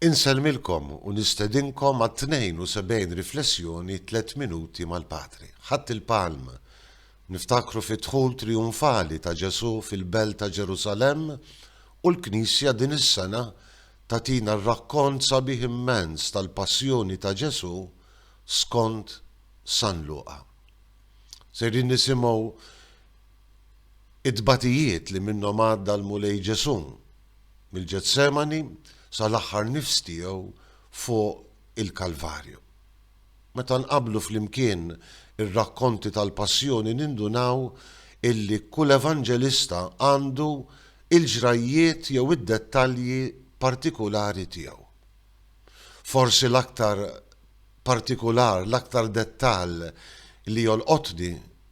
Insellmilkom u nistedinkom għat-72 riflessjoni Tliet Minuti mal-Patri. Ħadd il-Palm, Niftakru fid-dħul trijunfali ta' Ġesù fil-Belt ta' Ġerusalemm u l-Knisja din is-sena tagħtina rakkont sabiħ immens tal-Passjoni ta' Ġesù skont San Luqa. Sejrin nisimgħu t-tbatijiet li minnhom għadda l-Mulej Ġesù. mill-Ġetsemani sal-aħħar nifs tiegħu fuq il-Kalvarju. Meta nqabblu flimkien ir-rakkonti tal-Passjoni nindunaw illi kull Evanġelista għandu il-ġrajjiet jew id-dettalji partikulari tiegħu. Forsi l-aktar partikular, l-aktar dettall li jolqotni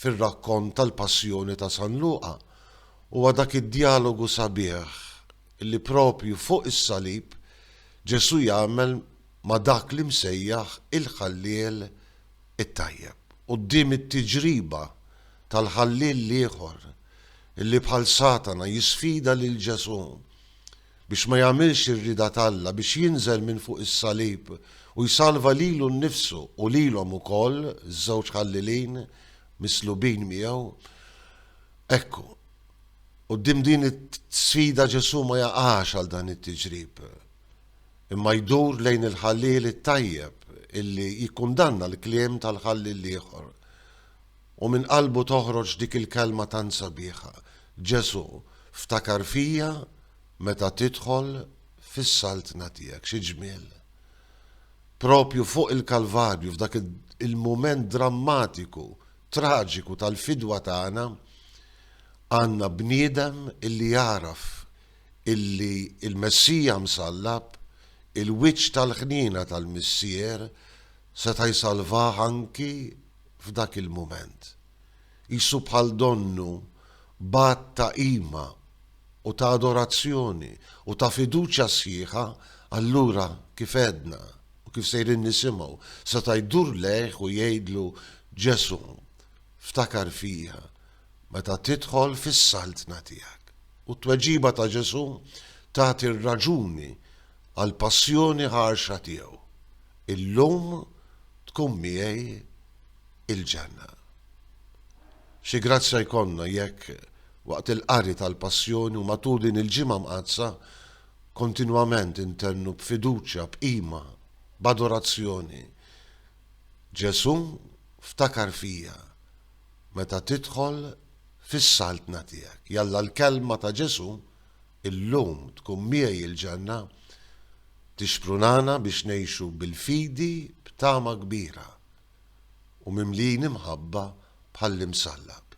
fir-rakkont tal-Passjoni ta' San Luqa Huwa dak id-djalogu sabiħ li proprju fuq is-salib Ġesù jagħmel ma' dak li msejjaħ il-Ħalliel it-Tajjeb. Quddiem it-tiġriba tal-Ħalliel l-ieħor li bħal Satana jisfida lil Ġesù biex ma jagħmilx ir-rieda t'Alla, biex jinżel minn fuq is-salib u jsalva lilu nnifsu u lilhom ukoll, iż-żewġ Ħallielin mislubin miegħu, Ekku, quddiem din is-sfida Ġesù ma jaqax għal dan it-tiġrib, imma jdur lejn il-ħalliel it-tajjeb illi jikkundanna l-kliem tal-ħalliel l-ieħor. U minn qalbu toħroġ dik il-kelma tant sabiħa, Ġesù, ftakar fija meta tidħol fis-Saltna tiegħek. Xi ġmiel! Proprju fuq il-Kalvarju, f'dak il-mument drammatiku traġiku tal-fidwa tagħna għandna bniedem illi jagħraf illi l-Messija msallab, il-wiċċ tal-ħniena tal-Missier, seta' jsalvah anki f'dak il-mument. Qisu bħal donnu bagħat ta' qima u ta' adorazzjoni u ta' fiduċja sħiħa allura kif għedna. U kif sejrin nisimgħu, seta' jdur lejh u jgħidlu, Ġesù, ftakar fija meta tidħol fis-saltna tiegħek. U t-tweġiba ta' Ġesù tagħti r-raġuni għall-passjoni ħarxa tiegħu, Illum tkun miegħi il-ġenna. Xi grazzja jkollna jekk, waqt il-qari tal-Passjoni u matul din il-Ġimgħa Mqaddsa, kontinwament intennu b'fiduċja, b'qima, b'adorazzjoni, Ġesù, ftakar fija meta tidħol fis-Saltna tiegħek. Jalla l-Kelma ta' Ġesù illum tkun miegħi il-ġenna, tixprunana biex ngħixu bil-fidi b'tama kbira u mimlijin imħabba bħall-Imsallab.